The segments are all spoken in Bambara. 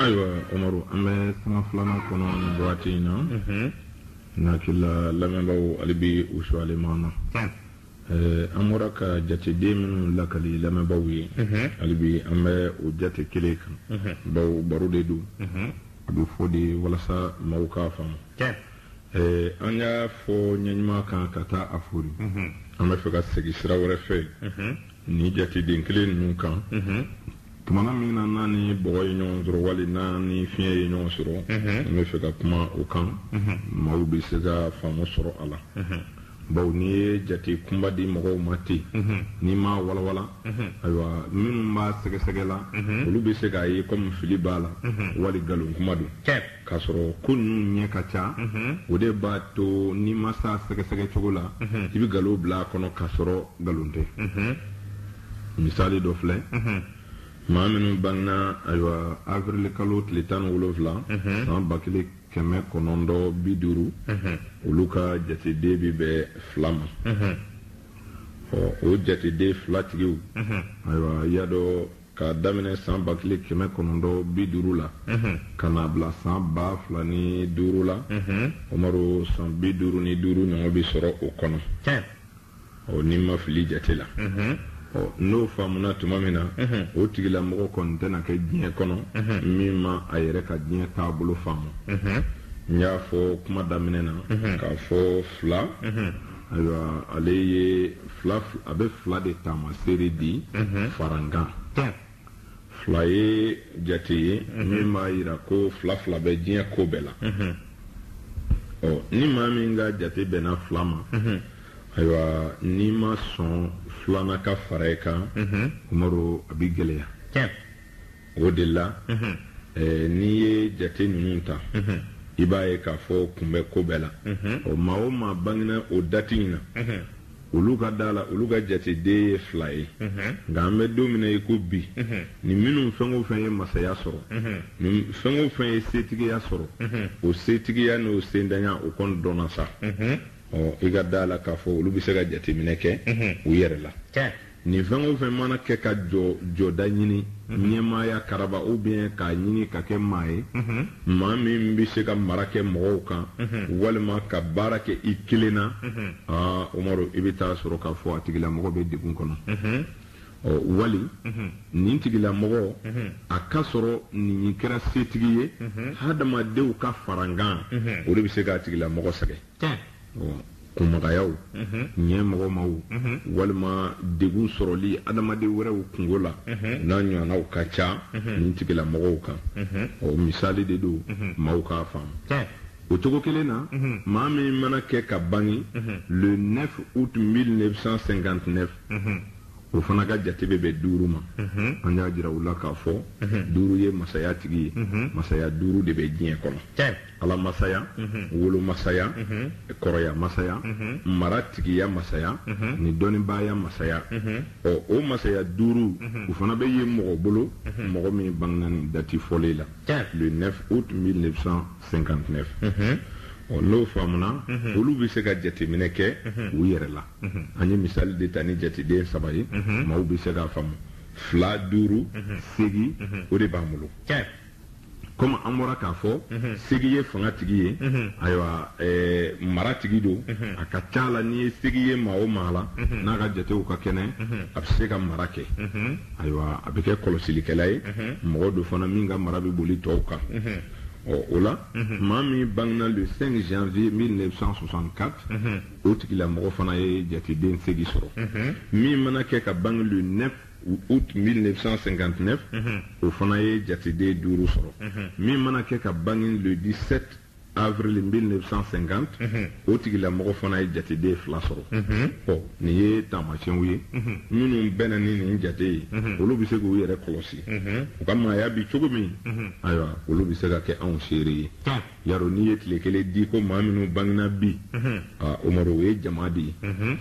ayiwa Umaru an bɛ sanga filanan kɔnɔ nin waati in na n hakili la lamɛnbaaw hali bi u suyalen b'an na an bɔra ka jateden minnu lakali lamɛnbaaw ye hali bi an bɛ o jate kelen kan bawo baro de don a bɛ fɔ de walasa maaw k'a faamu an y'a fɔ ɲɛɲuman kan ka taa a foori an bɛ fɛ ka segin sira wɛrɛ fɛ ni jateden kelen ninnu kan tumana min na n'a ni bɔgɔ ye ɲɔgɔn sɔrɔ wali n'a ni fiɲɛ ye ɲɔgɔn sɔrɔ n bɛ fɛ ka kuma o kan maaw bɛ se ka faamu sɔrɔ a la bawo n'i ye jate kunba di mɔgɔw ma ten n'i m'a walawala ayiwa minnu b'a sɛgɛsɛgɛ la olu bɛ se k'a ye komi fili b'a la wali nkalon kuma don K'a sɔrɔ ko ninnu ɲɛ ka ca, unhun, o de b'a to n'i ma se a sɛgɛsɛgɛ cogo la, unhun, i bɛ nkalon bila a kɔnɔ k'a sɔrɔ nkalon tɛ, unhun, misali dɔ filɛ, unhun, maa minnu bangena ayiwa avril kalo tile tan ni wolonwula, unhun, san ba kelen kɛmɛ kɔnɔntɔn bi duuru, unhun, olu ka jateden bɛ bɛn fila ma, unhun, ɔ o jateden fila tigiw, unhun, ayiwa i y'a dɔn k'a daminɛ san ba kelen kɛmɛ kɔnɔntɔn bi duuru la ka n'a bila san ba fila ni duuru la Umaru san bi duuru ni duuru ɲɔgɔn bɛ sɔrɔ o kɔnɔ ɔ ni n ma fili jate la ɔ n'o faamuna tuma min na o tigilamɔgɔ kɔni tɛna kɛ diɲɛ kɔnɔ min ma a yɛrɛ ka diɲɛ taabolo faamu n y'a fɔ kuma daminɛ na k'a fɔ fila ayiwa ale ye fila a bɛ fila de taamaseere di mhm. farankan fila ye jate ye mhm. min b'a jira ko fila fila bɛ diɲɛ ko bɛɛ la mhm. ɔ ni maa min ka jate bɛnna fila ma ayiwa n'i ma sɔn filanan ka fara i kan Umaru a bɛ gɛlɛya o de la n'i ye jate ninnu ta i b'a ye k'a fɔ kun bɛ ko bɛɛ la ɔ maa o maa bangena o dati in na olu ka da la olu ka jateden ye fila ye nka an bɛ don min na i ko bi ni minnu fɛn o fɛn ye masaya sɔrɔ ni fɛn o fɛn ye setigiya sɔrɔ o setigiya n'o sentanya o kɔni dɔnna sa ɔ i ka da la k'a fɔ olu bɛ se ka jateminɛ kɛ u yɛrɛ la Nin fɛn o fɛn mana kɛ ka jɔ jɔda ɲini, ɲɛmaaya karaba ou bien k'a ɲini ka kɛ maa ye, maa min bɛ se ka mara kɛ mɔgɔw kan walima ka baara kɛ i kelen na, aa Umaru, i bɛ t'a sɔrɔ k'a fɔ a tigilamɔgɔ bɛ degun kɔnɔ. Ɔ wali nin tigilamɔgɔ, a ka sɔrɔ n'i kɛra setigi ye hadamadenw ka farankan, o de bɛ se k'a tigilamɔgɔ sɛgɛn. kunmɔgɔyaw ɲɛmɔgɔyaw walima degun sɔrɔli adamaden wɛrɛw kunko la n'a ɲɔgɔnw ka ca nin tigila mɔgɔw kan ɔ misali de don maaw k'a faamu o cogo kelen na maa min mana kɛ ka bange le 9 août 1959 o fana ka jate bɛ bɛn duuru ma an y'a jira u la k'a fɔ duuru ye masaya tigi ye masaya duuru de bɛ diɲɛ kɔnɔ Ala masaya, unhun, wolo masaya, unhun, kɔrɔya masaya, unhun, maratigiya masaya, unhun, ni dɔnnibaaya masaya, unhun, ɔ o masaya duuru, unhun, o fana bɛ ye mɔgɔ bolo, unhun, mɔgɔ min bangena nin dati fɔlen la, tiɲɛ, le 9 aout 1959, unhun, ɔ n'o faamuna, unhun, olu bɛ se ka jateminɛ kɛ, unhun, u yɛrɛ la, unhun, an ye misali de ta ni jateden saba ye, unhun, maaw bɛ se k'a faamu, fila, duuru, unhun, segin, unhun, o de b'an bolo, tiɲɛ. comme an bɔra k'a fɔ mhm. segi ye fanga tigi ye mhm. ayiwa eh, mara tigi don mhm. a ka ca la n'i ye segi ye maa o maa la n'a ka jatew ka kɛnɛ a bɛ se ka mara kɛ ayiwa a bɛ kɛ kɔlɔsilikɛla ye mɔgɔ don fana min ka mara bɛ boli tɔw kan ɔ o la maa min bangena le 5 janvier 1964 o tigilamɔgɔ fana ye jateden segi sɔrɔ min mana kɛ ka bange le 9 août 1959 o fana ye jateden duuru sɔrɔ min mana kɛ ka bange le 17 avril 1950 o tigilamɔgɔ fana ye jateden fila sɔrɔ ɔ nin ye taamasiyɛnw ye minnu bɛnna ni nin jate ye olu bɛ se k'u yɛrɛ kɔlɔsi u ka maaya bi cogo min ayiwa olu bɛ se ka kɛ anw seere ye Yaro n'i ye tile kelen di ko maa minnu bangena bi umaru o ye jama de ye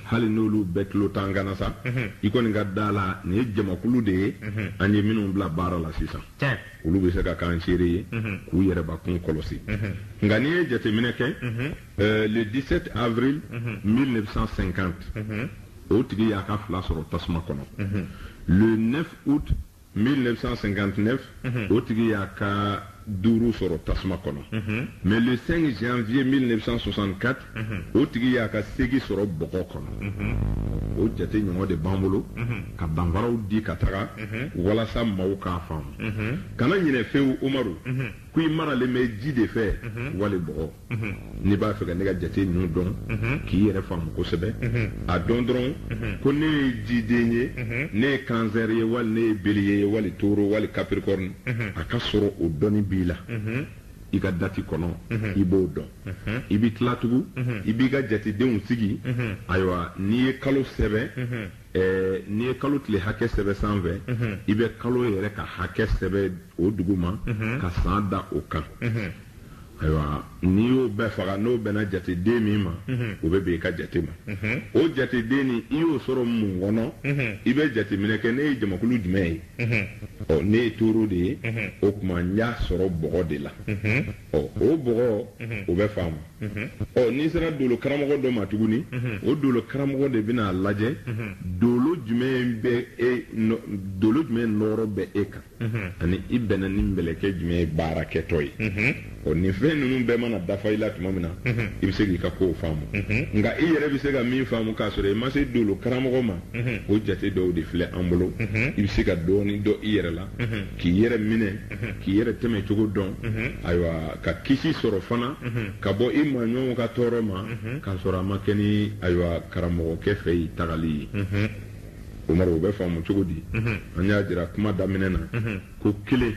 hali n'olu bɛɛ tulo t'an kan na sa i kɔni ka da a la nin ye jamakulu de ye an ye minnu bila baara la sisan olu bɛ se ka k'an seere ye k'u yɛrɛbakun kɔlɔsi nka n'i ye jateminɛ kɛ le 17 avril 1950 o tigi y'a ka fila sɔrɔ tasuma kɔnɔ le 1959 o tigi y'a ka duuru sɔrɔ tasuma kɔnɔ mais le 5 janvier 1964 o tigi y'a ka segi sɔrɔ bɔgɔ kɔnɔ o jate ɲɔgɔn de b'an bolo ka danfaraw di ka taga walasa maaw k'a faamu kana ɲinɛ fewu umaru ko i maralen bɛ ji de fɛ mhm. wali bɔgɔ mhm. n'i b'a fɛ ka ne ka jate ninnu dɔn mhm. k'i yɛrɛ faamu kosɛbɛ a dɔn dɔrɔn ko ne ye jiden ye ne ye cancer ye wali ne ye bélier ye wali taureau wali capricorne a k'a sɔrɔ o dɔnni b'i la i ka dati kɔnɔ i b'o dɔn i b'i tila tugun i b'i ka jatedenw sigi ayiwa n'i ye kalo sɛbɛn Eh, n'i ye kalo tile hakɛ sɛbɛ sanfɛ mhm. i bɛ kalo yɛrɛ ka hakɛ sɛbɛ o duguma mhm. ka san da o kan mhm. ayiwa n'i y'o bɛɛ faga n'o bɛnna jateden min ma o bɛ bɛn i ka jate ma o jateden ni i y'o sɔrɔ mun kɔnɔ i bɛ jateminɛ kɛ ne ye jamakulu jumɛn ye ɔ ne ye toro de ye o tuma n y'a sɔrɔ bɔgɔ de la ɔ o bɔgɔ o bɛ faamu ɔ n'i sera dolo karamɔgɔ dɔ ma tuguni o dolo karamɔgɔ de bɛna a lajɛ dolo jumɛn bɛ e dolo jumɛn nɔɔrɔ bɛ e kan ani i bɛnna ni mɛlɛkɛ jumɛn ye baara kɛtɔ ye ɔ nin fɛn ninnu bɛɛ mana dafa i la tuma min na i bɛ se k'i ka kow faamu nka i yɛrɛ bɛ se ka min faamu k'a sɔrɔ i ma se dolo karamɔgɔ ma o jate dɔw de filɛ an bolo i bɛ se ka dɔɔnin dɔn i yɛrɛ la k'i yɛrɛ minɛ k'i yɛrɛ tɛmɛ cogo dɔn ayiwa ka kisi sɔrɔ fana ka bɔ i maaɲɔgɔnw ka tɔɔrɔ ma k'a sɔrɔ a ma kɛ ni ayiwa karamɔgɔkɛ fɛ yen tagali ye umaru o bɛ faamu cogo di an y'a jira kuma daminɛ na ko kelen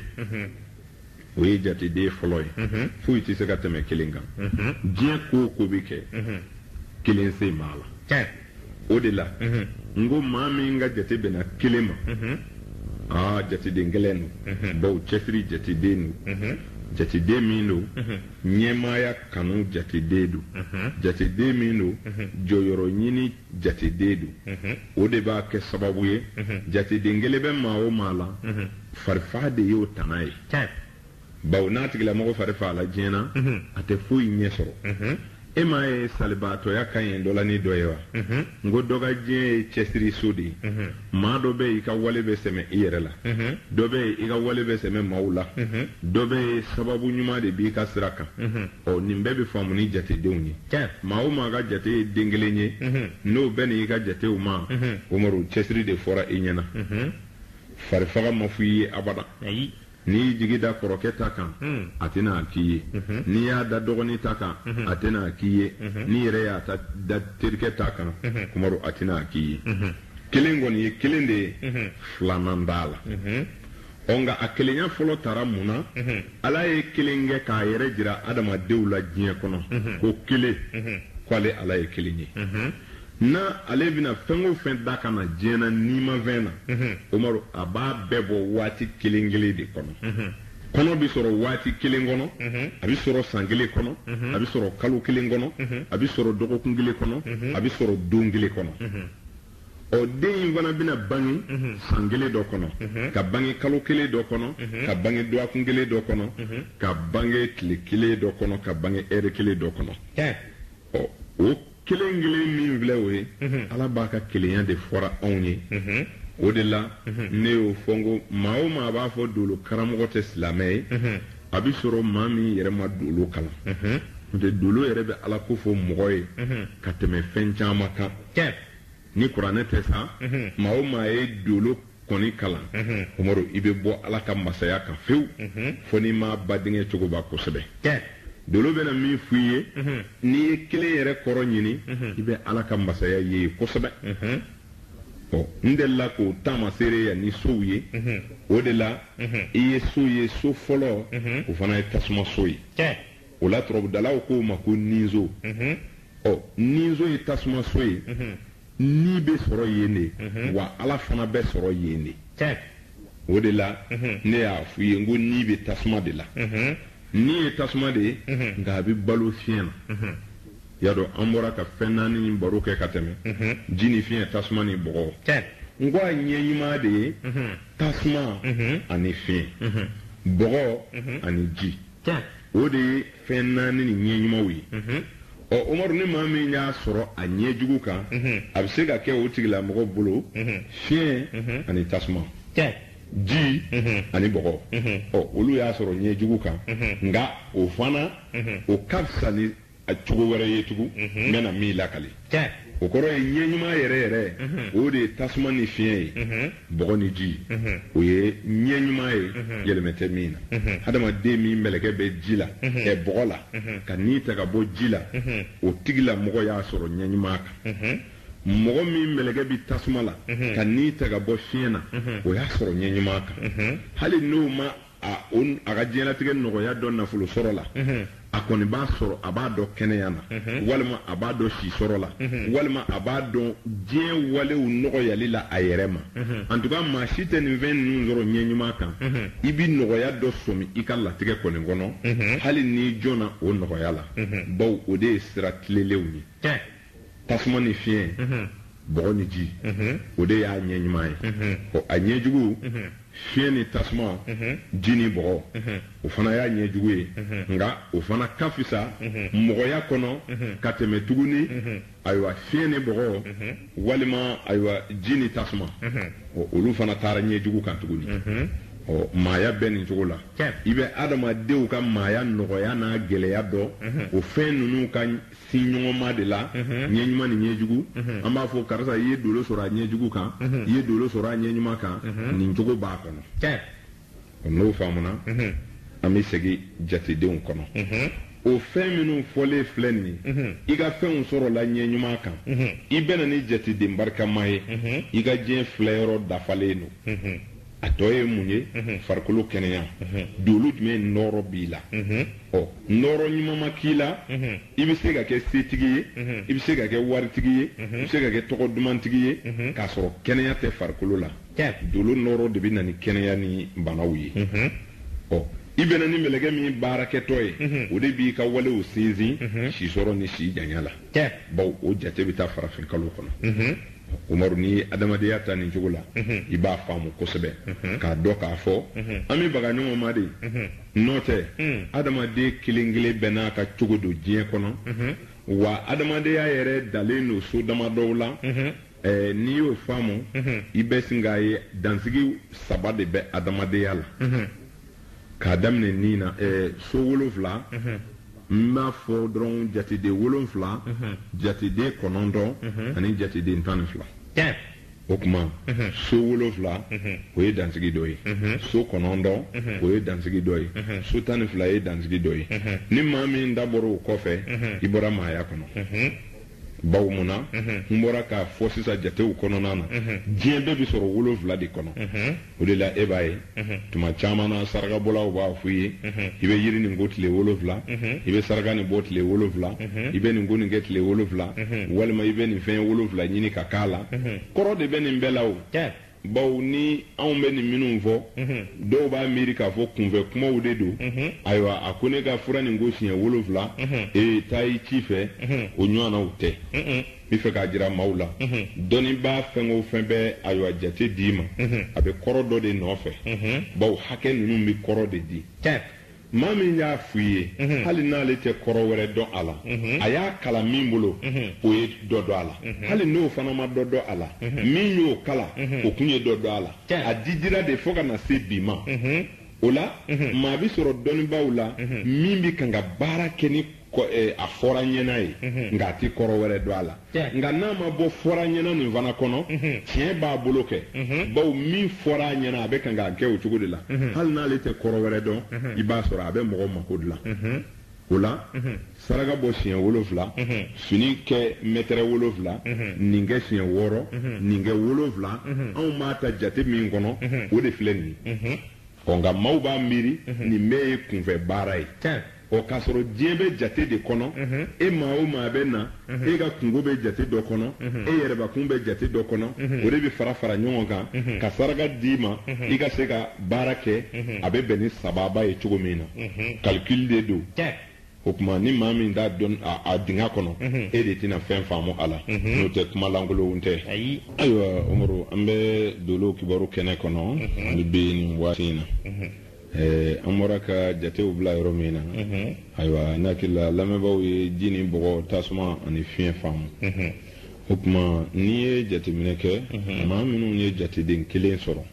o ye jateden fɔlɔ ye foyi tɛ se ka tɛmɛ kelen kan diɲɛ ko o ko bɛ kɛ kelen sen b'a la o de la n ko maa min ka jate bɛnna kelen ma aa jateden gɛlɛn don bawo cɛsiri jateden don jateden min don ɲɛmaaya kanu jateden don jateden min don jɔyɔrɔ ɲini jateden don o de b'a kɛ sababu ye jateden kelen bɛ maa o maa la farifaga de y'o tana ye Bawo n'a tigilamɔgɔ fari fagala diɲɛ na, a tɛ foyi ɲɛ sɔrɔ. E m'a ye salibaatɔya ka ɲi dɔ la ni dɔ ye wa? N ko dɔ ka diɲɛ ye cɛsiri so de ye. Maa dɔ bɛ yen, i ka wale bɛ sɛmɛ i yɛrɛ la. Dɔ bɛ yen, i ka wale bɛ sɛmɛ maaw la. Dɔ bɛ yen, sababu ɲuman de b'i ka sira kan. Ɔ, nin bɛɛ bɛ faamu ni jatedenw ye. Maa o maa ka jate ye den kelen ye, n'o bɛnna i ka jatew ma, Umaru, cɛsiri de fɔra i ɲɛna. Farifaga ma fɔ i ye abada. N'i y'i jigi da kɔrɔkɛ ta kan, a tɛna a k'i ye. N'i y'a da dɔgɔnin ta kan, a tɛna a k'i ye. N'i yɛrɛ y'a ta da terikɛ ta kan, Umaru, a tɛna a k'i ye. Kelen kɔni ye kelen de ye, filanan t'a la. Ɔ nka a kelenya fɔlɔ tara mun na? Ala ye kelen kɛ k'a yɛrɛ jira adamadenw la diɲɛ kɔnɔ ko kelen, ko ale Ala ye kelen ye. N'ale bɛna fɛn o fɛn da ka na diɲɛ na nimafɛn na, unhun, Umaru a b'a bɛɛ bɔ waati kelen kelen de kɔnɔ, unhun, kɔnɔ bɛ sɔrɔ waati kelen kɔnɔ, unhun, a bɛ sɔrɔ san kelen kɔnɔ, unhun, a bɛ sɔrɔ kalo kelen kɔnɔ, unhun, a bɛ sɔrɔ dɔgɔkun kelen kɔnɔ, unhun, a bɛ sɔrɔ don kelen kɔnɔ, unhun, ɔ den in fana bɛna bange unhun, san kelen dɔ kɔnɔ, unhun, ka bange kalo kelen dɔ kɔnɔ, unhun, ka bange dɔgɔkun kelen dɔ kɔnɔ, unhun, ka bange tile kelen dɔ kɔnɔ, ka bange ɛri kelen dɔ kɔnɔ, tiɲɛ, ɔ o kelen kelen min filɛ o ye ala b'a ka kelenya de fɔra anw ye o de la ne y'o fɔ n ko maa o maa b'a fɔ dolo karamɔgɔ tɛ silamɛ ye a bɛ sɔrɔ maa min yɛrɛ ma dolo kalan n'o tɛ dolo yɛrɛ bɛ ala ko fɔ mɔgɔ ye ka tɛmɛ fɛn caman kan ni kuranɛ tɛ sa maa o maa ye dolo kɔni kalan umaru i bɛ bɔ ala ka masaya kan fewu fo n'i ma ba denkɛ cogoba kosɛbɛ dolo bɛna min f'i ye n'i ye kelen yɛrɛ kɔrɔ ɲini i bɛ ala ka masaya ye ye kosɛbɛ ɔ n delila k'o taamaseereya ni sow ye o de la i ye so ye so fɔlɔ o fana ye tasuma so ye o la turabudalaw k'o ma ko ninso ɔ ninso ye tasuma so ye ni bɛ sɔrɔ yen de wa ala fana bɛ sɔrɔ yen de o de la ne y'a f'u ye n ko ni bɛ tasuma de la ni ye tasuma de ye nka a bɛ balo fiɲɛ na y'a dɔn an bɔra ka fɛn naani baro kɛ ka tɛmɛ ji ni fiɲɛ tasuma ni bɔgɔ n ko a ɲɛ ɲuman de ye tasuma ani fiɲɛ bɔgɔ ani ji o de ye fɛn naani nin ɲɛ ɲumanw ye ɔ umaru ni maa min y'a sɔrɔ a ɲɛ jugu kan a bɛ se ka kɛ o tigilamɔgɔ bolo fiɲɛ ani tasuma ji ani bɔgɔ ɔ olu y'a sɔrɔ ɲɛ jugu kan nka o fana o ka fisa ni a cogo wɛrɛ ye tugu mhm. n bɛna min lakali o kɔrɔ ye ɲɛ ɲuman yɛrɛ yɛrɛ mhm. o de ye tasuma ni fiɲɛ ye mhm. bɔgɔ ni ji o ye ɲɛ ɲuman ye yɛlɛmɛ tɛ min na hadamaden min mɛlɛkɛ bɛ ji la ɛ bɔgɔ la ka ni ta ka bɔ ji la o tigilamɔgɔ y'a sɔrɔ ɲɛ ɲuman kan mɔgɔ min mɛlɛkɛ bi tasuma la ka ni ta ka bɔ fiɲɛ na o y'a sɔrɔ ɲɛ ɲuman kan hali n'o ma a o a ka diɲɛlatigɛ nɔgɔya dɔn nafolo sɔrɔ la a kɔni b'a sɔrɔ a b'a dɔn kɛnɛya na walima a b'a dɔn si sɔrɔ la walima a b'a dɔn diɲɛ walew nɔgɔyali la a yɛrɛ ma antuka maa si tɛ nin fɛn ninnu sɔrɔ ɲɛ ɲuman kan i bɛ nɔgɔya dɔ sɔmi i ka latigɛ kɔni kɔnɔ hali n'i jɔnna o nɔgɔya la bawo o de ye sira tilelenw ye tasuma ni fiɲɛ bɔgɔ ni ji o de y'a ɲɛ ɲuman ye ɔ a ɲɛ jugu fiɲɛ ni tasuma ji ni bɔgɔ o fana y'a ɲɛ jugu ye nka o fana ka fisa mɔgɔya kɔnɔ ka tɛmɛ tuguni ayiwa fiɲɛ ni bɔgɔ walima ayiwa ji ni tasuma ɔ olu fana taara ɲɛ jugu kan tuguni ɔ maaya bɛ nin cogo la i bɛ adamadenw ka maaya nɔgɔya n'a gɛlɛya dɔn o fɛn ninnu ka ɲɔgɔnma de la ɲɛ ɲuman ni ɲɛ jugu an b'a fɔ karisa i ye dolo sɔrɔ a ɲɛ jugu kan i ye dolo sɔrɔ a ɲɛ ɲuman kan nin cogo b'a kɔnɔ n'o faamuna an bɛ segin jatedenw kɔnɔ o fɛn minnu fɔlen filɛ nin ye i ka fɛnw sɔrɔla ɲɛ ɲuman kan i bɛ na ni jateden barikama ye i ka diɲɛ filɛ yɔrɔ dafalen don a tɔ ye mun ye farikolo kɛnɛya dolo jumɛn nɔɔrɔ b'i la ɔ nɔɔrɔ ɲuman ma k'i la i bɛ se ka kɛ setigi ye i bɛ se ka kɛ waritigi ye i bɛ se ka kɛ tɔgɔ dumantigi ye k'a sɔrɔ kɛnɛya tɛ farikolo la dolo nɔɔrɔ de bɛ na ni kɛnɛya ni banaw ye ɔ i bɛ na ni mɛlɛkɛ min baarakɛtɔ ye o de b'i ka walew sinsin si sɔrɔ ni si janya la bawo o jate bɛ taa farafinkalo kɔnɔ Umaru n'i ye adamadenya ta nin cogo la i b'a faamu kosɛbɛ k'a dɔn k'a fɔ an bɛ baga ɲɔgɔn ma de n'o tɛ adamaden kelen kelen bɛɛ n'a ka cogo don diɲɛ kɔnɔ wa adamadenya yɛrɛ dalen don so dama dɔw la n'i y'o faamu i bɛ sin k'a ye dansigi saba de bɛ adamadenya la k'a daminɛ nin na ɛɛ so wolonfila n b'a fɔ dɔrɔn jateden wolonfila jateden kɔnɔntɔn ani jateden tan ni fila o tuma so wolonfila o ye dansigi dɔ ye so kɔnɔntɔn o ye dansigi dɔ ye so tan ni fila ye dansigi dɔ ye ni maa min dabɔra o kɔfɛ i bɔra maaya kɔnɔ bawo mun na n bɔra k'a fɔ sisan jatew kɔnɔna na diɲɛ bɛɛ bɛ sɔrɔ wolonfila de kɔnɔ o de la e b'a ye tuma caman na sarakabɔlaw b'a fɔ i ye i bɛ yiri nin ko tile wolonfila i bɛ saraka nin bɔ tile wolonfila i bɛ nin ko nin kɛ tile wolonfila walima i bɛ nin fɛn wolonfila ɲini ka k'a la kɔrɔ de bɛ nin bɛɛ la o bawo ni anw bɛ nin minnu fɔ mhm. dɔw b'a miiri k'a fɔ kunfɛ kumaw de don mhm. ayiwa a ko ne ka fura nin ko siɲɛ wolonfila mhm. ee taa i ci fɛ o ɲɔgɔnnaw tɛ n bɛ fɛ k'a jira maaw la dɔnnibaa fɛn o fɛn bɛ ayiwa jate d'i ma a bɛ kɔrɔ dɔ de nɔfɛ bawo hakɛ ninnu bɛ kɔrɔ de di Maa min y'a fɔ i ye, unhun, hali n'ale tɛ kɔrɔ wɛrɛ dɔn a la, unhun, a y'a kalan min bolo, unhun, o ye dɔ dɔn a la, unhun, hali n'o fana ma dɔ dɔn a la, unhun, min y'o kalan, unhun, o tun ye dɔ dɔn a la, tiɲɛ, a didira de fo ka na se bi ma, unhun, o la, unhun, maa bɛ sɔrɔ dɔnnibaaw la, unhun, min bɛ kan ka baara kɛ ni Eh, a fɔra ɲɛna ye mhm. nka a tɛ kɔrɔ wɛrɛ dɔn a la nka n'a ma bɔ fɔra ɲɛna nin fana kɔnɔ mhm. tiɲɛ b'a bolo kɛ mhm. bawo min fɔra a ɲɛna a bɛ kan k'a kɛ o cogo de la hali n'ale tɛ kɔrɔ wɛrɛ dɔn i b'a sɔrɔ a bɛ mɔgɔ mako dilan o la saraka bɔ siɲɛ wolonfila fini kɛ mɛtɛrɛ wolonfila nin kɛ siɲɛ wɔɔrɔ nin kɛ wolonfila anw b'a ta jate min kɔnɔ o de filɛ nin ye ɔ nka maaw b'a miiri nin bɛɛ ye kunfɛ baara ye O k'a sɔrɔ diɲɛ bɛ jate de kɔnɔ, e maa o maa bɛ na, e ka kunko bɛ jate dɔ kɔnɔ, e yɛrɛbakun bɛ jate dɔ kɔnɔ, o de bɛ fara fara ɲɔgɔn kan ka saraka d'i ma i ka se ka baara kɛ, a bɛ bɛn ni sababa ye cogo min na, calcul de don, o tuma ni maa min tɛ don a dingɛ kɔnɔ, e de tɛna fɛn faamu a la, n'o tɛ kuma lankolonw tɛ. Ayiwa Umaru, an bɛ Dolo kibaru kɛnɛ kɔnɔ, an bɛ bi nin waati in na. Eh, an bɔra ka jatew bila yɔrɔ min na mhm. ayiwa ne hakili la lamɛnbaaw ye ji ni bɔgɔ tasuma ani fiɲɛ faamu mhm. o tuma n'i ye jateminɛ kɛ mhm. maa minnu ye jateden kelen sɔrɔ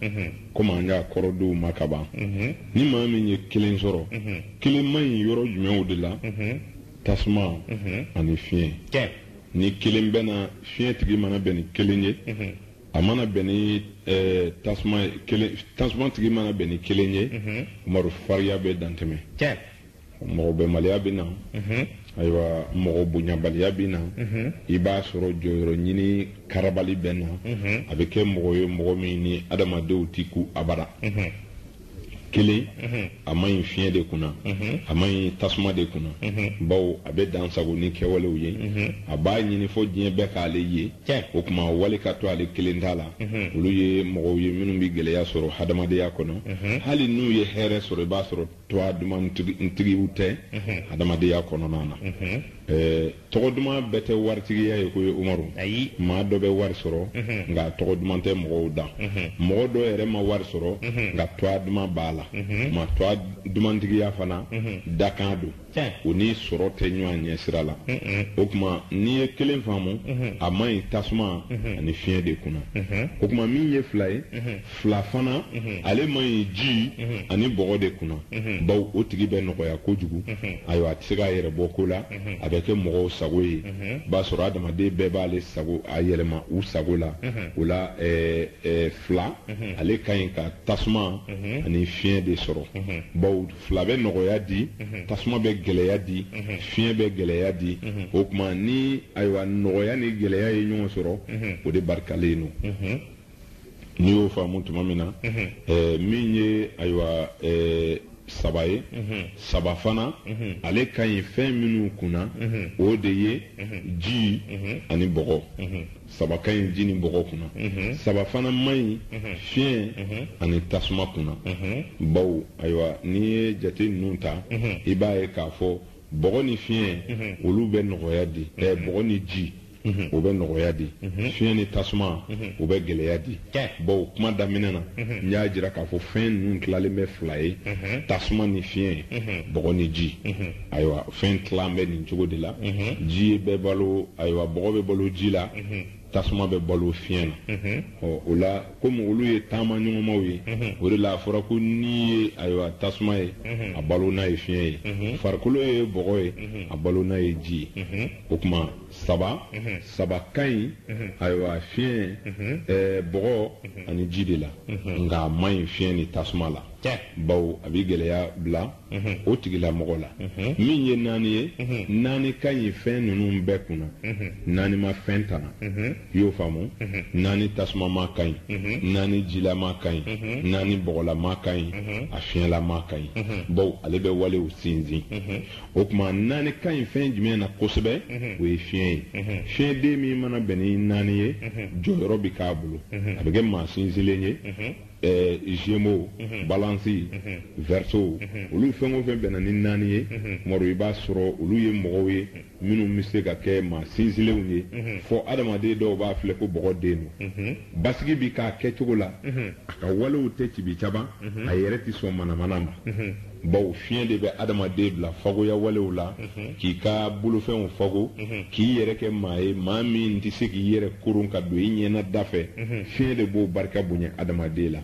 komi an y'a kɔrɔ d'u ma ka ban ni maa min ye kelen sɔrɔ kelen man ɲi yɔrɔ jumɛnw de la tasuma ani fiɲɛ ni kelen bɛna fiɲɛ tigi mana bɛn ni kelen ye a mana bɛn ni eh, tasuma kelen tasuma tigi mana bɛn ni kelen ye mhm. umaru fariya bɛ dantɛmɛ mɔgɔ bɛnbaliya bɛ na mhm. ayiwa mɔgɔ bonyabaliya bɛ na mhm. i b'a sɔrɔ jɔyɔrɔ ɲini karabali bɛ na a bɛ kɛ mɔgɔ ye mɔgɔ min ni adamadenw tɛ kun abada kelen a man ɲi fiɲɛ de kunna a man ɲi tasuma de kunna bawo a bɛ dansagon ni kɛwalew ye a b'a ɲini fɔ diɲɛ bɛɛ k'ale ye o tuma wali ka to ale kelen ta la olu ye mɔgɔw ye minnu bɛ gɛlɛya sɔrɔ hadamadenya kɔnɔ hali n'u ye hɛrɛ sɔrɔ i b'a sɔrɔ tɔa dumantigiw tɛ hadamadenya kɔnɔna na Tɔgɔ duman bɛɛ tɛ waritigiya ye koyi Umaru. Ayi! Maa dɔ bɛ wari sɔrɔ, nka a tɔgɔ duman tɛ mɔgɔw da. Mɔgɔ dɔ yɛrɛ ma wari sɔrɔ, nka tɔa duman b'a la. Maa tɔa dumantigiya fana, dakan don. O ni sɔrɔ tɛ ɲɔan ɲɛ sira la. O tuma, n'i ye kelen faamu, a man ɲi tasuma ani fiɲɛ de kunna. O tuma, min ye fila ye, fila fana ale man ɲi ji ani bɔgɔ de kunna baw o tigi bɛ nɔgɔya kojugu ayiwa a tɛ se k'a yɛrɛ bɔ ko la a bɛ kɛ mɔgɔw sago ye i b'a sɔrɔ adamaden bɛɛ b'ale yɛlɛma u sago la o la fila ale ka ɲi ka tasuma ani fiɲɛ de sɔrɔ baw fila bɛ nɔgɔya di tasuma bɛ gɛlɛya di fiɲɛ bɛ gɛlɛya di o tuma ni ayiwa nɔgɔya ni gɛlɛya ye ɲɔgɔn sɔrɔ o de barikalen don n'i y'o faamu tuma min na eh, min ye ayiwa eh, saba ye saba fana ale ka ɲi fɛn minnu kunna o de ye ji ani bɔgɔ saba ka ɲi ji ni bɔgɔ kunna saba fana man ɲi fiɲɛ ani tasuma kunna bawo ayiwa n'i ye jate ninnu ta i b'a ye k'a fɔ bɔgɔ ni fiɲɛ olu bɛ nɔgɔya di eh, bɔgɔ ni ji mhm. o bɛ nɔgɔya di mhm. fiɲɛ ni tasuma mhm. o bɛ gɛlɛya di bawo kuma daminɛ na n y'a jira k'a fɔ fɛn ninnu tilalen bɛ fila ye tasuma ni fiɲɛ bɔgɔ ni ji ayiwa fɛn tilan bɛ nin cogo de la ji bɛ balo ayiwa bɔgɔ bɛ balo ji la tasuma bɛ balo fiɲɛ na ɔ o la komi olu ye taamaɲɔgɔnmaw ye o de la a fɔra ko ni ye ayiwa tasuma ye a balona ye fiɲɛ ye farikolo ye bɔgɔ ye a balona ye ji ye o tuma saba saba ka ɲi ayiwa fiɲɛ bɔgɔ ani ji de la nka a man ɲi fiɲɛ ni tasuma la bawo a bɛ gɛlɛya bila o tigilamɔgɔ la min ye naani ye naani ka ɲi fɛn ninnu bɛɛ kunna naani ma fɛn tana y'o faamu naani tasumama ka ɲi naani jilama ka ɲi naani bɔgɔlama ka ɲi a fiɲɛlama ka ɲi baw ale bɛ walew sinsin o tuma naani ka ɲi fɛn jumɛn na kosɛbɛ o ye fiɲɛ ye fiɲɛden min mana bɛn ni naani ye jɔyɔrɔ bɛ k'a bolo a bɛ kɛ maa sinsinlen ye Eh, zemo mhm. balansi mhm. vɛriso mhm. olu fɛn o fɛn bɛnna ni naani ye umaru i b'a sɔrɔ olu ye mɔgɔw ye minnu bɛ se ka kɛ maa sinsinlenw ye fɔ adamaden dɔw b'a filɛ ko bɔgɔden don basigi bɛ k'a kɛcogo la a ka walew tɛ cibi caba a yɛrɛ tɛ sɔn manamana ma bawo fiɲɛ de bɛ adamaden bila fagoya walew la k'i ka bolofɛnw fago k'i yɛrɛ kɛ maa ye maa min tɛ se k'i yɛrɛ koron ka don i ɲɛna da fɛ fiɲɛ de b'o barika bonya adamaden la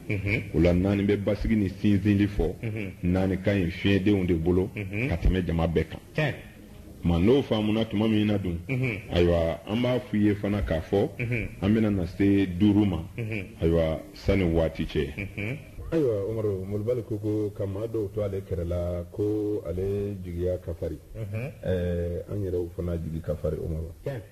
o la naani bɛ basigi ni sinsinli fɔ naani ka ɲi fiɲɛdenw de bolo ka tɛmɛ jama bɛɛ kan ma n'o faamuna tuma min na dun ayiwa an b'a f'u ye fana k'a fɔ an bɛna na se duuru ma ayiwa sani waati cɛ ayiwa umaru molobali ko ko ka maa dɔw to ale kɛrɛ la ko ale jigiya ka fari an yɛrɛw fana jigi ka fari umaru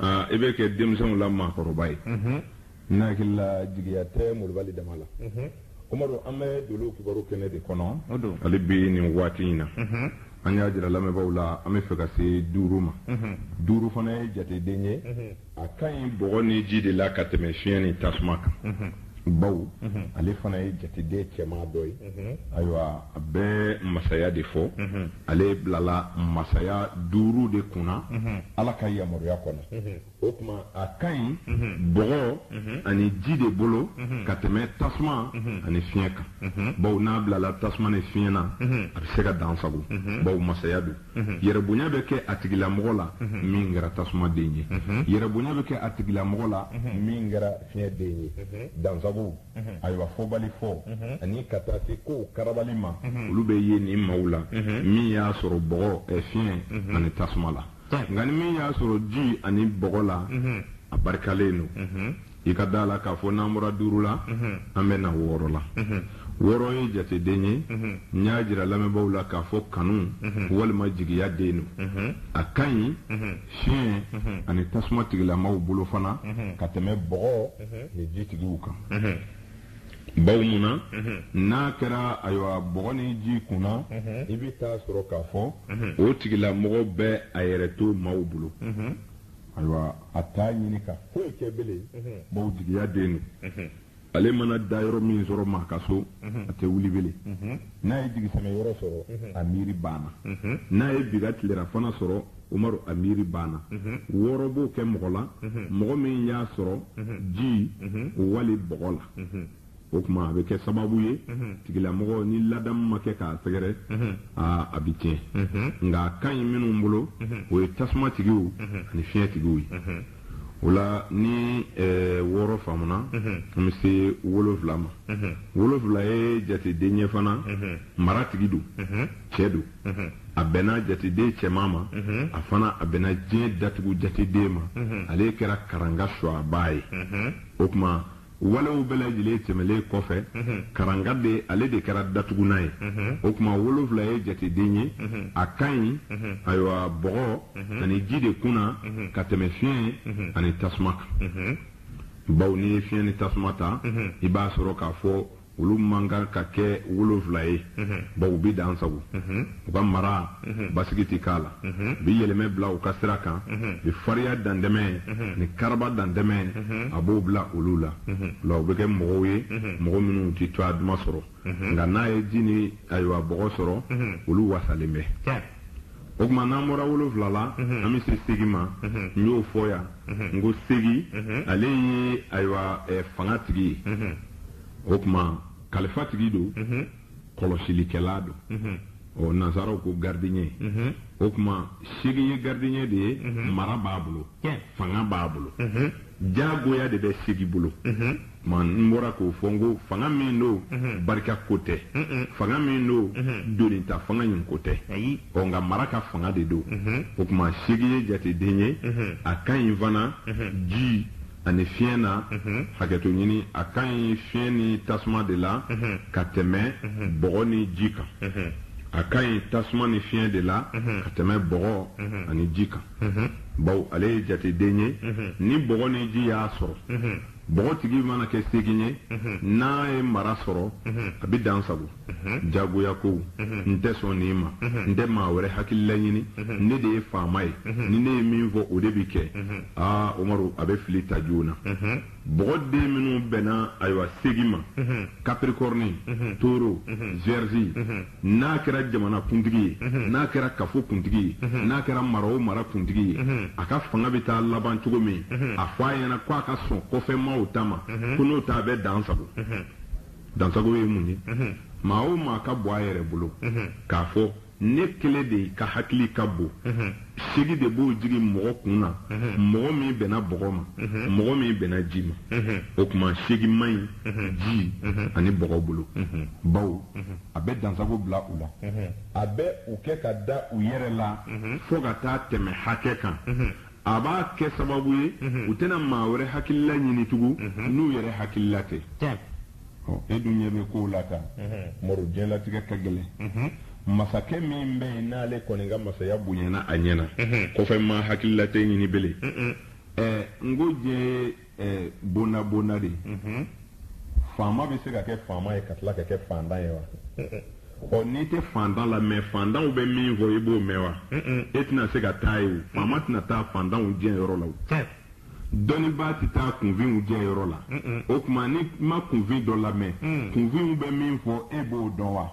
Aa i bɛ kɛ denmisɛnw la maakɔrɔba ye ne hakili la jigiya tɛ molobali dama la amadu an bɛ doolow kibaru kɛnɛ de kɔnɔ hali bi nin waati in na an y'a jira lamɛnbaaw la an bɛ fɛ ka se duuru ma duuru fana ye jateden ye a ka ɲi bɔgɔ ni ji de la ka tɛmɛ fiɲɛ ni tasuma kan baw ale fana ye jateden cɛma dɔ ye ayiwa a bɛ masaya de fɔ ale bilala masaya duuru de kunna ala ka yamaruya kɔnɔ o tuma a ka ɲi bɔgɔ ani ji de bolo ka tɛmɛ tasuma ani fiɲɛ kan baw n'a bilala tasuma ni fiɲɛ na a bɛ se ka dansago baw masaya don Mhm. yɛrɛbonya bɛ kɛ a tigilamɔgɔ la mhm. min kɛra tasuma den ye mhm. yɛrɛbonya bɛ kɛ a tigilamɔgɔ la min kɛra fiɲɛ den ye dansago ayiwa fɔbali fɔ ani ka taa se kow karabali ma olu bɛ ye nin maaw la min y'a sɔrɔ bɔgɔ eh, fiɲɛ ani tasuma la nka ni min y'a sɔrɔ ji ani bɔgɔ la a barikalen don i ka da la k'a fɔ n'an bɔra duuru la an bɛ na wɔɔrɔ la wɔɔrɔ ye jateden ye n y'a jira lamɛnbaaw la k'a fɔ kanu walima jigiya den don a ka ɲi fiɲɛ ani tasuma tigilamaw bolo fana ka tɛmɛ bɔgɔ ni ji tigiw kan bawo mun na n'a kɛra ayiwa bɔgɔ ni ji kun na i bɛ t'a sɔrɔ k'a fɔ o tigilamɔgɔ bɛ a yɛrɛ to maaw bolo ayiwa a t'a ɲini ka foyi kɛ bilen bawo jigiya den don ale mana dayɔrɔ min sɔrɔ maa ka so a tɛ wuli bilen n'a ye jigisɛmɛ yɔrɔ sɔrɔ a miiri banna n'a ye bi ka tilerafana sɔrɔ umaru a miiri banna wɔɔrɔ b'o kɛ mɔgɔ la mɔgɔ min y'a sɔrɔ ji wali bɔgɔ la o tuma a bɛ kɛ sababu ye mhm. tigilamɔgɔ ni ladamu ma kɛ k'a sɛgɛrɛ mhm. a bɛ tiɲɛ mhm. nka a ka ɲi minnu bolo o ye tasuma tigiw ani fiɲɛ tigiw ye o la ni eh, wɔɔrɔ faamuna an bɛ se wolonfila ma wolonfila ye jateden ye fana maratigi don cɛ don a bɛnna jateden cɛman ma a fana a bɛnna diɲɛ datugu jateden ma ale kɛra karanga sɔgɔbaa ye o tuma Walew bɛɛ lajɛlen tɛmɛlen kɔfɛ, karanga de ale de kɛra datugunan ye. O tuma wolonwula ye jateden ye, a ka ɲi, ayiwa, bɔgɔ ani ji de kun na ka tɛmɛn fiɲɛ ani tasuma kan. Bawo n'i ye fiɲɛ ni tasuma ta, i b'a sɔrɔ k'a fɔ olu man kan ka kɛ wolonfila ye bawo bi dan sago u ka mara basigi tɛ k'a la bi yɛlɛmɛ bila u ka sira kan bi fariya dantɛmɛ ni karaba dantɛmɛ a b'o bila olu la la u bɛ kɛ mɔgɔw ye mɔgɔ minnu tɛ tɔgɔ duman sɔrɔ nka n'a ye ji ni ayiwa bɔgɔ sɔrɔ olu wasalen bɛ o tuma n'an bɔra wolonfila la an bɛ se segi ma n y'o fɔ yan n ko segi ale ye ayiwa fangatigi ye o tuma kalifatigi don kɔlɔsilikɛla don ɔ nansaraw ko garidiɲɛ o tuma segi ye garidiɲɛ de ye mara b'a bolo fanga b'a bolo jagoya de bɛ segi bolo Tuma n bɔra k'o fɔ n ko fanga min don barika ko tɛ fanga min don donita fanga in ko tɛ ɔ nka mara ka fanga de don o tuma segin ye jateden ye a ka ɲi fana ji ani fiɲɛ na hakɛto ɲini a ka ɲi fiɲɛ ni tasuma de la ka tɛmɛ bɔgɔ ni ji kan a ka ɲi tasuma ni fiɲɛ de la ka tɛmɛ bɔgɔ ani ji kan bawo ale ye jateden ye ni bɔgɔ ni ji y'a sɔrɔ bɔgɔtigi mana kɛ segin ye n'a ye mara sɔrɔ a bɛ dansago jagoya ko n tɛ sɔn nin ma n tɛ maa wɛrɛ hakilila ɲini ne de ye faama ye ni ne ye min fɔ o de bɛ kɛ aa omaru a bɛ fili ta joona bɔgɔ den minnu bɛnna ayiwa segin ma kapirikɔrɔni toro wiyɛrizi n'a kɛra jamana kuntigi ye n'a kɛra kafo kuntigi ye n'a kɛra mara o mara kuntigi ye a ka fanga bɛ taa laban cogo min a fɔ a ɲɛna ko a ka sɔn kɔfɛmaaw ta ma ko n'o tɛ a bɛ dansago dansago ye mun ye maa o maa ka bɔ a yɛrɛ bolo k'a fɔ ne kelen de ka hakili ka bon Segin de b'o jigin mɔgɔ kun na mɔgɔ min bɛnna bɔgɔ ma mɔgɔ min bɛnna ji ma o tuma segin man ɲi ji ani bɔgɔ bolo baw a bɛ dansago bila u la a bɛ u kɛ ka da u yɛrɛ la fo ka taa tɛmɛ hakɛ kan a b'a kɛ sababu ye u tɛna maa wɛrɛ hakilila ɲini tugun n'u yɛrɛ hakilila tɛ e dun ɲɛ bɛ kow la tan omaru diɲɛlatigɛ ka gɛlɛn masakɛ min bɛ yen n'ale kɔni ka masaya bonyana a ɲɛna kɔfɛmaa hakilila tɛ ɲini bilen n ko diɲɛ ye bonda bonda de ye faama bɛ se ka kɛ faama ye ka tila ka kɛ faantan ye wa ɔ n'i tɛ faantan lamɛn faantanw bɛ min fɔ i b'o mɛn wa e tɛna se ka taa yen faama tɛna taa faantanw jɛ yɔrɔ la dɔnnibaa tɛ taa kunfinw jɛ yɔrɔ la o tuma n'i ma kunfin dɔ lamɛn mm. kunfinw bɛ min fɔ e b'o dɔn wa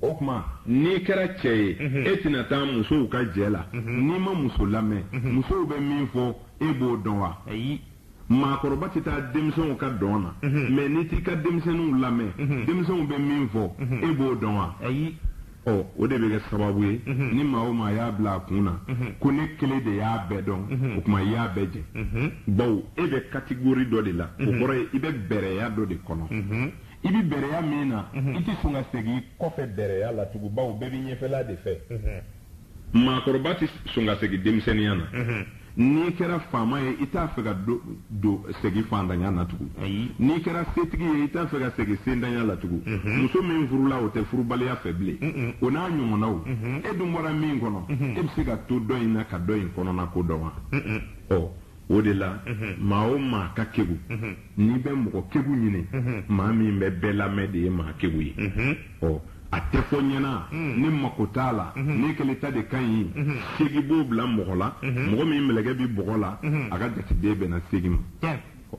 o tuma n'i kɛra cɛ ye mm-hmm. e tɛna taa musow ka jɛ la mm-hmm. n'i ma muso lamɛn mm-hmm. musow bɛ min fɔ e b'o dɔn wa maakɔrɔba tɛ taa denmisɛnw ka dɔn na mɛ n'i t'i ka denmisɛnninw lamɛn denmisɛnw bɛ min fɔ e b'o dɔn wa ɔ o de bɛ kɛ sababu ye ni maa o maa y'a bila a kun na ko ne kelen de y'a bɛɛ dɔn o tuma i y'a bɛɛ jɛ bawo e bɛ katigori dɔ de la o kɔrɔ ye i bɛ bɛrɛya dɔ de kɔnɔ i bɛ bɛrɛya min na i tɛ sɔn ka segin kɔfɛ bɛrɛya la tugun bawo bɛɛ b'i ɲɛfɛla de fɛ Maakɔrɔba tɛ sɔn ka segin denmisɛnninya na. N'i kɛra faama ye, i t'a fɛ ka don segin faantanya na tugun. N'i kɛra setigi ye, i t'a fɛ ka segin sentanya la tugun. Muso min furula, o tɛ furubaliya fɛ bilen. O n'a ɲɔgɔnnaw. E dun bɔra min kɔnɔ, e bɛ se ka to dɔ in na ka dɔ in kɔnɔnako dɔn wa? Ɔ! O de la maa o maa ka kegu n'i bɛ mɔgɔ kegu ɲini maa min bɛ bɛɛ lamɛn de ye maa kegu ye ɔ a tɛ fɔ ɲɛna ne mako t'a la ne kelen ta de ka ɲi segin b'o bila mɔgɔ la mɔgɔ min mɛlɛkɛ bɛ bɔgɔ la a ka jateden bɛnna segin ma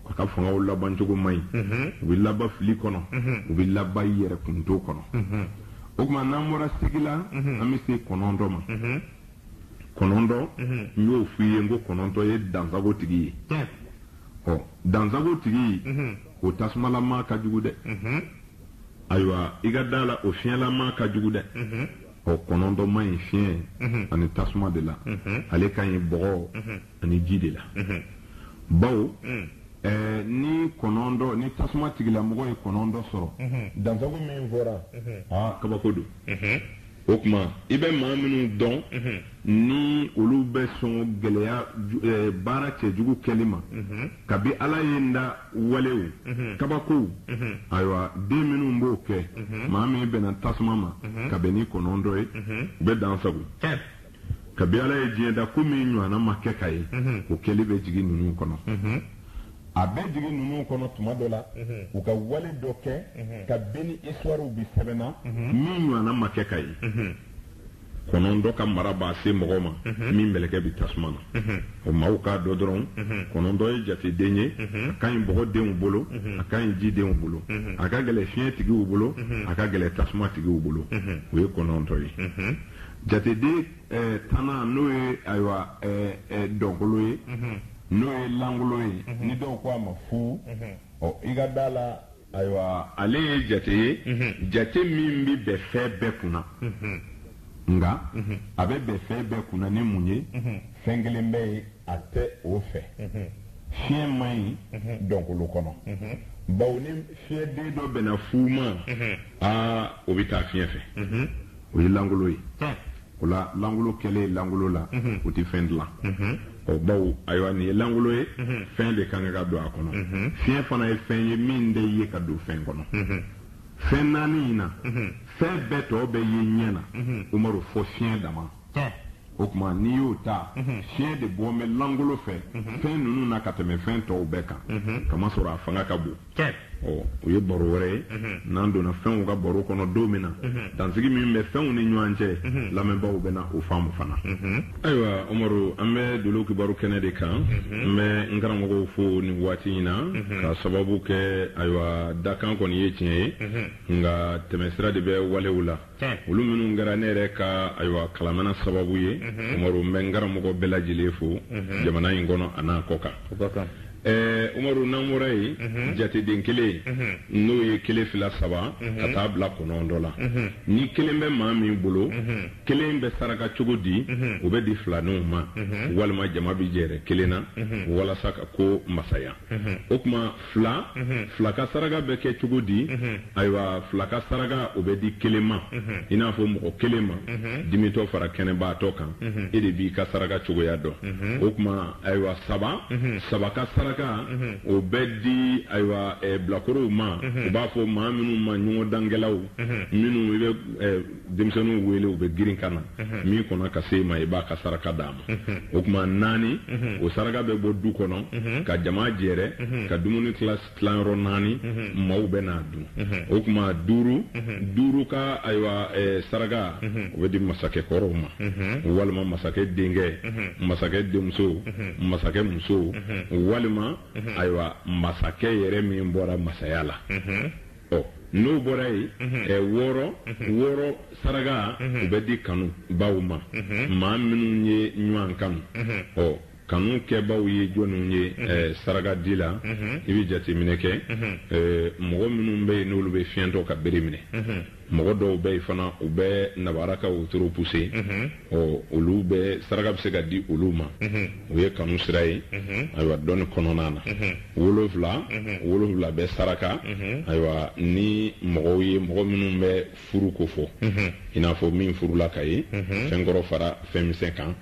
a ka fangaw labancogo man ɲi u bɛ laban fili kɔnɔ u bɛ laban yɛrɛ kunto kɔnɔ o tuma n'an bɔra segin la an bɛ se kɔnɔntɔn ma kɔnɔntɔn n y'o f'i ye n ko kɔnɔntɔn ye dansago tigi ye ɔ dansago tigi o tasumalama ka jugu dɛ ayiwa i ka da la o fiɲɛlama ka jugu dɛ ɔ kɔnɔntɔn man ɲi fiɲɛ ani tasuma de la ale ka ɲi bɔgɔ ani ji de la bawo Eh, ni kɔnɔntɔn ni tasuma tigilamɔgɔ ye kɔnɔntɔn sɔrɔ dansago min fɔra aa kabako don O tuma i bɛ maa minnu dɔn ni olu bɛ sɔn gɛlɛya eh, baara cɛjugu kɛli ma kabi ala ye n da walew kabakow ayiwa den minnu b'o kɛ maa min bɛnna tasuma ma ka bɛn ni kɔnɔntɔn ye u bɛ dan sago kabi ala ye diɲɛ da ko min ɲɔgɔnna ma kɛ ka ye o kɛli bɛ jigin ninnu kɔnɔ a bɛ jigin ninnu kɔnɔ tuma dɔ la u ka wale dɔ kɛ kabini isituwariw bi sɛbɛnna min ɲɔgɔnna ma kɛ ka ye kɔnɔntɔn ka mara b'a se mɔgɔ ma min mɛlɛkɛ bi tasuma na o maaw k'a dɔn dɔrɔn kɔnɔntɔn ye jateden ye a ka ɲi bɔgɔdenw bolo a ka ɲi jidenw bolo a ka gɛlɛn fiɲɛ tigiw bolo a ka gɛlɛn tasuma tigiw bolo o ye kɔnɔntɔn ye Jateden tanana n'o ye ayiwa dɔnkolo ye n'o ye lankolon ye ni dɔw ko a ma fu ɔ i ka da la ayiwa ale ye jate ye jate min bɛ bɛn fɛn bɛɛ kunna nka a bɛ bɛn fɛn bɛɛ kunna ni mun ye fɛn kelen bɛ yen a tɛ o fɛ fiɲɛ man ɲi dɔnkolo kɔnɔ bawo ni fiɲɛden dɔ bɛnna fu ma aa o bɛ taa fiɲɛ fɛ o ye lankolon ye o la lankolon kɛlen lankolon la o tɛ fɛn dilan ɔ bawo ayiwa nin ye lankolon ye fɛn de ka kan ka don a kɔnɔ fiɲɛ fana ye fɛn ye min tɛ ye ka don fɛn kɔnɔ fɛn naani in na fɛn bɛɛ tɔ bɛ ye ɲɛ na umaru fo fiɲɛ dama o tuma n'i y'o ta fiɲɛ de bɔ bɛ lankolon fɛ fɛn ninnu na ka tɛmɛ fɛn tɔw bɛɛ kan k'a masɔrɔ a fanga ka bon o ye baro wɛrɛ ye n'an donna fɛnw ka baro kɔnɔ don min na dansigi min bɛ fɛnw ni ɲɔgɔn cɛ lamɛnbaaw bɛna o faamu fana ayiwa umaru an bɛ dolo kibaru kɛnɛ de kan n bɛ n karamɔgɔw fo nin waati in na ka sababu kɛ ayiwa dakan kɔni ye tiɲɛ ye nka tɛmɛsira de bɛ walew la olu minnu kɛra ne yɛrɛ ka ayiwa kalamana sababu ye umaru n bɛ n karamɔgɔ bɛɛ lajɛlen fo jamana in kɔnɔ a n'a kɔ kan umaru n'an bɔra yen jateden kelen n'o ye kelen fila saba ka taa bila kɔnɔntɔn la ni kelen bɛ maa min bolo kelen bɛ saraka cogo di o bɛ di filaninw ma walima jama bɛ jɛrɛ kelen na walasa ka ko masaya o tuma fila fila ka saraka bɛ kɛ cogo di ayiwa fila ka saraka o bɛ di kelen ma i n'a fɔ mɔgɔ kelen ma dimitɔ fara kɛnɛbaatɔ kan e de b'i ka saraka cogoya dɔn o tuma ayiwa saba saba ka saraka o bɛ di ayiwa bilakorow ma u b'a fɔ maa minnu ma ɲɔgɔndankɛlaw minnu denmisɛnninw wele u bɛ girin ka na min kɔnna ka se i ma i b'a ka saraka d'a ma o tuma naani o saraka bɛ bɔ du kɔnɔ ka jama jɛrɛ ka dumuni tila yɔrɔ naani maaw bɛ n'a dun o tuma duuru duuru ka ayiwa saraka o bɛ di masakɛ kɔrɔw ma walima masakɛ denkɛ masakɛ denmuso masakɛ muso walima ayiwa masakɛ yɛrɛ min bɔra masaya la n'o bɔra yen wɔɔrɔ wɔɔrɔ saraka o bɛ di kanubaw ma maa minnu ye ɲɔgɔn kanu ɔ kanu kɛbaw ye jɔnw ye saraka di la i bɛ jateminɛ kɛ mɔgɔ minnu bɛ yen n'olu bɛ fiɲɛtɔ ka bere minɛ mɔgɔ dɔw bɛ yen fana u bɛ nabara ka wotoro puse ɔ olu bɛ saraka bɛ se ka di olu ma o ye kanu sira ye ayiwa dɔnni kɔnɔna na wolonfila wolonfila bɛ saraka ayiwa ni mɔgɔw ye mɔgɔ minnu bɛ furu ko fɔ i n'a fɔ min furula ka ye fɛn kɔrɔ fara fɛn misɛn kan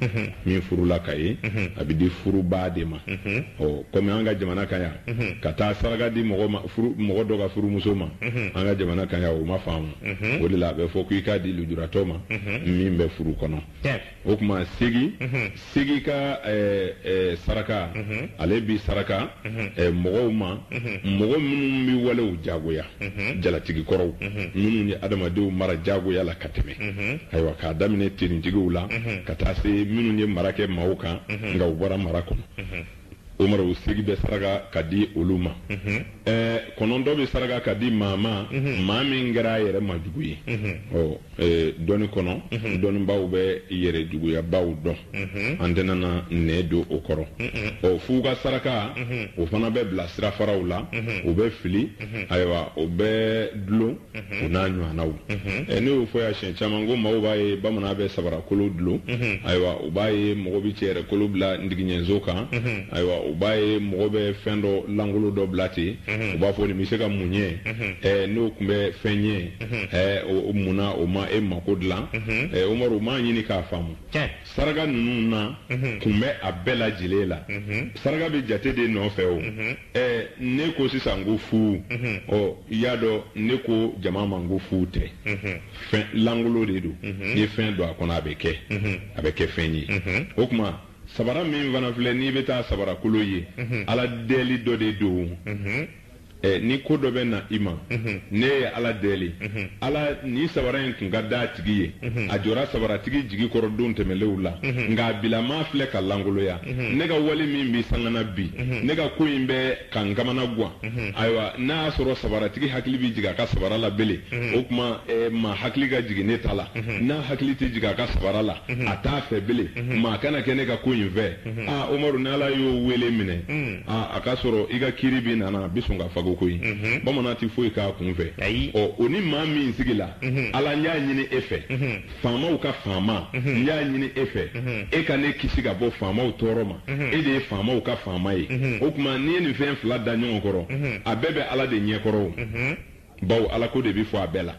min furula ka ye a bɛ di furubaa de ma ɔ kɔmi an ka jamana kan yan ka taa saraka di mɔgɔ dɔ ka furumuso ma an ka jamana kan yan o ma faamu Mhm. o de la a bɛ fɔ ko i k'a di lujuratɔ ma mhm. min bɛ furu kɔnɔ o tuma seegin mhm. seegin ka eh, eh, saraka ale bɛ saraka eh, mɔgɔw ma mɔgɔ minnu bɛ walew jagoya jalatigi kɔrɔw minnu ye adamadenw mara jagoya la ka tɛmɛ ayiwa k'a daminɛ finitigiw la ka taa se minnu ye mara kɛ maaw kan nka u bɔra mara kɔnɔ umaru seegin bɛ saraka ka di olu ma kɔnɔntɔn bɛ saraka ka di maa ma maa min kɛra a yɛrɛ ma jugu ye ɔ dɔnni kɔnɔ dɔnnibaw bɛ yɛrɛ juguyabaaw dɔn an tɛna na nɛn don o kɔrɔ ɔ f'u ka saraka o fana bɛ bila sirafaraw la o bɛ fili ayiwa o bɛ dulon o n'a ɲɔgɔnnaw ne y'o fɔ yan siɲɛ caman ko maaw b'a ye bamanan bɛ sabarakolo dulon ayiwa u b'a ye mɔgɔ bɛ cɛ yɛrɛ kolo bila ndigiɲɛso kan ayiwa u b'a ye mɔgɔ bɛ fɛn dɔ lankolo dɔ bila ten u b'a fɔ nin bɛ se ka mun ɲɛ n'o tun bɛ fɛn ɲɛ munna o ma e mako dilan umaru u m'a ɲini k'a faamu Saraka ninnu na kun bɛ a bɛɛ lajɛlen la saraka bɛ jate de nɔfɛ o ɛ ne ko sisan ko fu ɔ i y'a dɔn ne ko jama ma n ko fu tɛ fɛn lankolo de don ni fɛn don a kɔnɔ a bɛ kɛ a bɛ kɛ fɛn ye o tuma sabara min fana filɛ n'i bɛ taa sabarakolo ye ala deli dɔ de don Eh, ni ko dɔ bɛ na i ma mhm. ne ye ala deli mhm. ala nin sabara in tun ka d'a tigi ye mhm. a jɔra sabaratigi jigi kɔrɔ don tɛmɛlenw la nka bilama filɛ ka lankoloya ne ka wale min bɛ sanga na bi ne ka ko in bɛ ka n kamanagwan ayiwa n'a y'a sɔrɔ sabaratigi hakili bɛ jigin a ka sabara la bele o tuma eh, maa hakili ka jigin ne ta la n'a hakili tɛ jigin a ka sabara la a t'a fɛ bele maa kana kɛ ne ka ko in fɛ aa ah, umaru n'ala y'o wele minɛ a k'a sɔrɔ i ka kiri bɛ nana bɛ sɔn ka fago koyi bamanan tɛ foyi k'a kun fɛ ɔ o ni maa min sigila ala n y'a ɲini e fɛ faamaw ka faama n y'a ɲini e fɛ e ka ne kisi ka bɔ faamaw tɔɔrɔ ma e de ye faamaw ka faama ye o tuma n'i ye nin fɛn fila da ɲɔgɔn kɔrɔ a bɛɛ bɛ ala de ɲɛkɔrɔ Bawo alako de bɛ fɔ a bɛɛ la.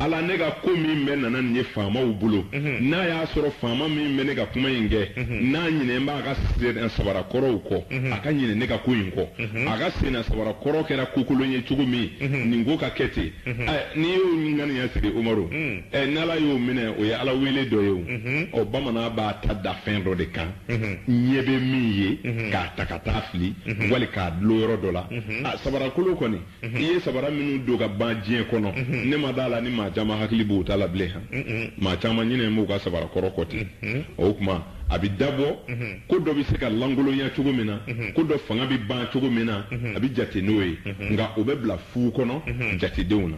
Ala, ne ka ko min bɛ nana nin ye faamaw bolo, n'a y'a sɔrɔ faama min bɛ ne ka kuma in kɛ, n'a ɲinɛn b'a ka sennasabara kɔrɔw kɔ, a ka ɲinɛ ne ka ko in kɔ. A ka sennasabara kɔrɔ kɛra kokolon ye cogo min, nin ko ka kɛ ten. Ɛ! N'i y'o ŋaniya siri, Umaru, ɛ, n'Ala y'o minɛ, o ye Ala wele dɔ ye o. Ɔ, bamanan b'a ta da fɛn dɔ de kan, ɲɛ bɛ min ye, k'a ta ka taa fili, wali k'a dulon yɔrɔ dɔ la. A, sabarakolo kɔni. i ye sabara minnu don ka ban diɲɛ kɔnɔ ne ma d'a la ni maa caman hakili b'u ta la bilen han maa caman ɲinɛn b'u ka sabara kɔrɔ kɔ ten o tuma a bɛ dabɔ ko dɔ bɛ se ka lankolonya cogo min na ko dɔ fanga bɛ ban cogo min na a bɛ jate n'o ye nka o bɛ bila fu kɔnɔ jatedenw na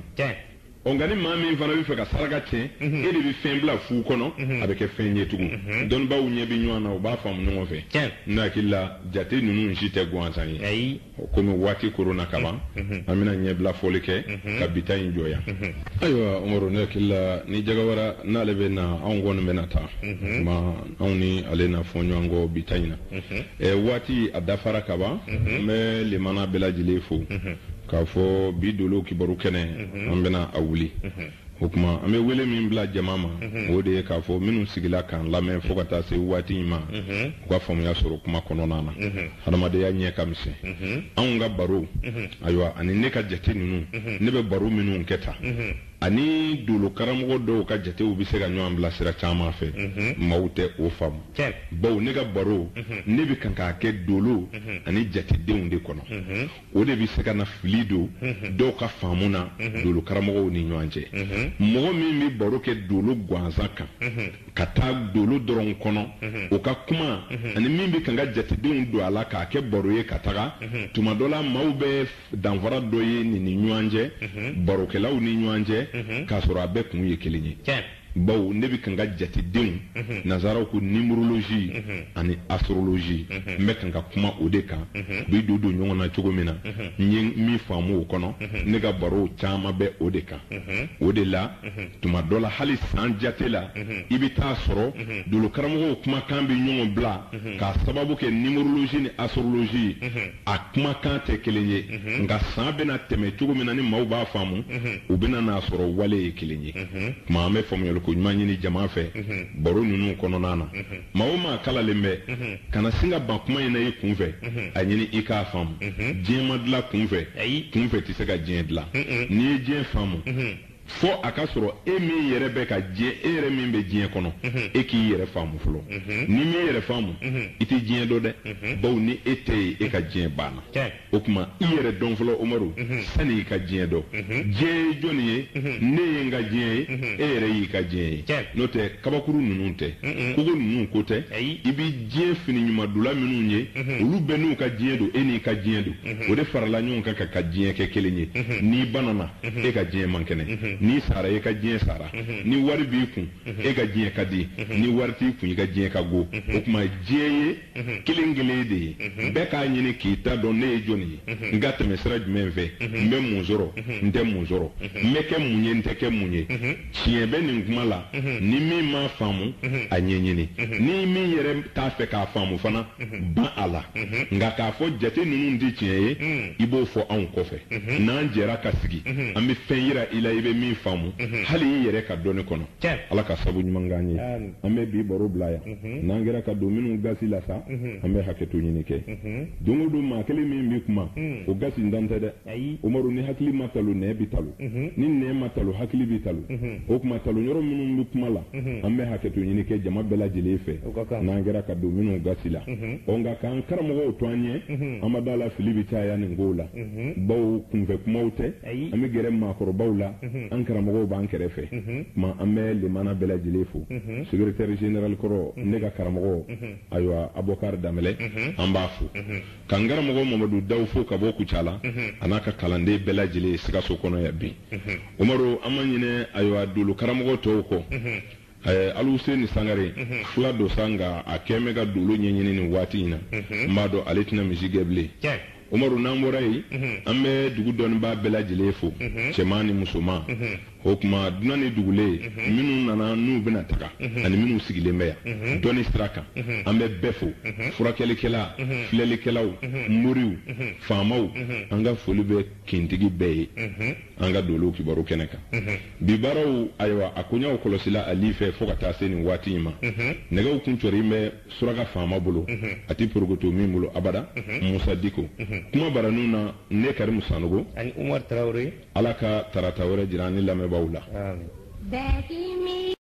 ɔ nka ni maa min fana b'a fɛ ka saraka tiɲɛ mhm. e de bɛ fɛn bila fu kɔnɔ mhm. a bɛ kɛ fɛn ye tugun mhm. dɔnnibaaw ɲɛ bɛ ɲɔgɔn na u b'a faamu ɲɔgɔn fɛ n hakili la jate ninnu si tɛ gansan ye komi waati koronna ka ban an bɛna ɲɛbila foli kɛ ka bi ta in jɔ yan ayiwa umaru ne hakili la ni jagawara n'ale bɛ na anw kɔni bɛna taa ma anw ni ale na fɔ ɲɔgɔn kɔ bi ta in na waati a dafara ka ban n bɛ lamɛnna bɛɛ lajɛlen fo k'a fɔ bi dolo kibaru kɛnɛ an bɛna a wuli o tuma an bɛ wele min bila jama ma o de ye k'a fɔ minnu sigila k'an lamɛn fo ka taa se waati in ma u ka faamuya sɔrɔ kuma kɔnɔna na hadamadenya ɲɛ ka misɛn anw ka baro ayiwa ani ne ka jate ninnu ne bɛ baro minnu kɛ ta ani dolo karamɔgɔ dɔw ka jatew bɛ se ka ɲɔgɔn bila sira caman fɛ maaw tɛ o faamu bawo ne ka baro ne bɛ kan k'a kɛ dolo ani jatedenw de kɔnɔ o de bɛ se ka na fili don dɔw ka faamu na dolo karamɔgɔw ni ɲɔgɔn cɛ mɔgɔ min bɛ baro kɛ dolo gansan kan ka taa dolo dɔrɔn kɔnɔ o ka kuma ani min bɛ ka ka jatedenw don a la k'a kɛ baro ye ka taga tuma dɔ la maaw bɛ danfara dɔ ye nin ni ɲɔgɔn cɛ barokɛlaw ni ɲɔgɔn cɛ k'a sɔrɔ a bɛɛ kun ye kelen ye bawo ne bɛ kan ka jatedenw mhm. nazaraw ko numérologie mhm. ani astrologie mhm. n bɛ kan ka kuma o de kan u bɛ don don ɲɔgɔn na cogo min na n ye min faamu o kɔnɔ ne ka barow caman bɛ o de kan o de la tuma dɔ la hali san jate la i bɛ t'a sɔrɔ dolo karamɔgɔw kumakan bɛ ɲɔgɔn bila k'a sababu kɛ numérologie ni astrologie ye a kumakan tɛ kelen ye nka san bɛna tɛmɛ cogo min na ni maaw b'a faamu u bɛna n'a sɔrɔ wale ye kelen ye tuma an bɛ faamuyali ko ɲuman ɲini jama fɛ baro ninnu kɔnɔna na maa o maa kalannen bɛ kana sin ka ban kuma in na i kun fɛ a ɲini i k'a faamu diɲɛ ma dilan kun fɛ kun fɛ tɛ se ka diɲɛ dilan n'i ye diɲɛ faamu fo a ka sɔrɔ e min yɛrɛ bɛ ka diɲɛ e yɛrɛ min bɛ diɲɛ kɔnɔ e k'i yɛrɛ faamu fɔlɔ n'i m'i yɛrɛ faamu i tɛ diɲɛ dɔn dɛ bawo ni e tɛ yen e ka diɲɛ banna o tuma i yɛrɛ dɔn fɔlɔ umaru sani i ka diɲɛ dɔn diɲɛ ye jɔni ye ne ye n ka diɲɛ ye e yɛrɛ y'i ka diɲɛ ye n'o tɛ kabakuru ninnu tɛ kogo ninnu ko tɛ i bɛ diɲɛ fini ɲuman donna minnu ye olu bɛɛ n'u ka diɲɛ don e n'i ka diɲɛ don o de farala ɲɔgɔn kan ka ka diɲɛ kɛ kelen ye n'i banana e ka diɲɛ man kɛnɛ n'i sara e ka diɲɛ sara ni wari b'i kun e ka diɲɛ ka di ni wari t'i kun i ka diɲɛ ka go o tuma diɲɛ ye kelen kelen de ye bɛɛ k'a ɲini k'i ta dɔn ne ye jɔni ye n ka tɛmɛ sira jumɛn fɛ n bɛ mun sɔrɔ n tɛ mun sɔrɔ n bɛ kɛ mun ye n tɛ kɛ mun ye tiɲɛ bɛ nin kuma la ni min m'a faamu a ɲɛɲini ni min yɛrɛ t'a fɛ k'a faamu fana ban a la nka k'a fɔ jate ninnu tɛ tiɲɛ ye i b'o fɔ anw kɔfɛ n'an jɛra ka sigi an bɛ fɛn yira i la i bɛ min faamu hali i yɛrɛ ka dɔnni kɔnɔ ala ka sabu ɲuman k'an ye an bɛ bi baro bila yan n'an kɛra ka don minnu gasi la sa an bɛ hakɛto ɲini kɛ don o don maa kelen min bɛ kuma o gasi ntan tɛ dɛ umaru ni hakili ma talo nɛn bi talo ni nɛn ma talo hakili bi talo o tuma talo yɔrɔ minnu bɛ kuma la an bɛ hakɛto ɲini kɛ jama bɛɛ lajɛlen fɛ n'an kɛra ka don minnu gasi la ɔ nka k'an karamɔgɔw to an ɲɛ an ma d'a la fili bɛ caya nin kow la bawo kunfɛ kumaw tɛ an bɛ gɛrɛ maakɔrɔbaw la an karamɔgɔw b'an kɛrɛfɛ tuma an bɛ lamɛnna bɛɛ lajɛlen fo segeretɛri zenerali kɔrɔ ne ka karamɔgɔ ayiwa abubakari danbɛlɛ an b'a fo Ka n karamɔgɔ Mamadu Dawu fo ka bɔ Kucala, unhun, a n'a ka kalanden bɛɛ lajɛlen Sikaso kɔnɔ yan bi. Unhun. Umaru, an ma ɲinɛ ayiwa dolo karamɔgɔ tɔw kɔ. Unhun. Ɛɛ, Aluwuseni Sangare, unhun, fula don sa nka a kɔni bɛ ka dolo ɲɛɲini nin waati in na. Unhun. N b'a dɔn ale tɛna misi gɛn bilen. Tiɲɛ. Umaru, n'an bɔra yen, unhun, an bɛ dugu dɔnnibaa bɛɛ lajɛlen fo, unhun, cɛman ni musoman, unhun. O tuma dunan ni dugulen minnu nana n'u bɛna taga ani minnu sigilen bɛ yan dɔnni sira kan an bɛ bɛɛ fo furakɛlikɛla filɛlikɛlaw moriw faamaw an ka foli bɛ kintigi bɛɛ ye an ka dolow kibaru kɛnɛ kan bi baaraw ayiwa a koɲaw kɔlɔsila ali fɛ fo ka taa se nin waati in ma nɛgɛw kuncɛ in bɛ suraka faama bolo a tɛ porokoto min bolo abada musa diko kumabaranin na ne karimu sanogo Ala ka tarata wɛrɛ jira an ni lamɛnbaaw la. Aami.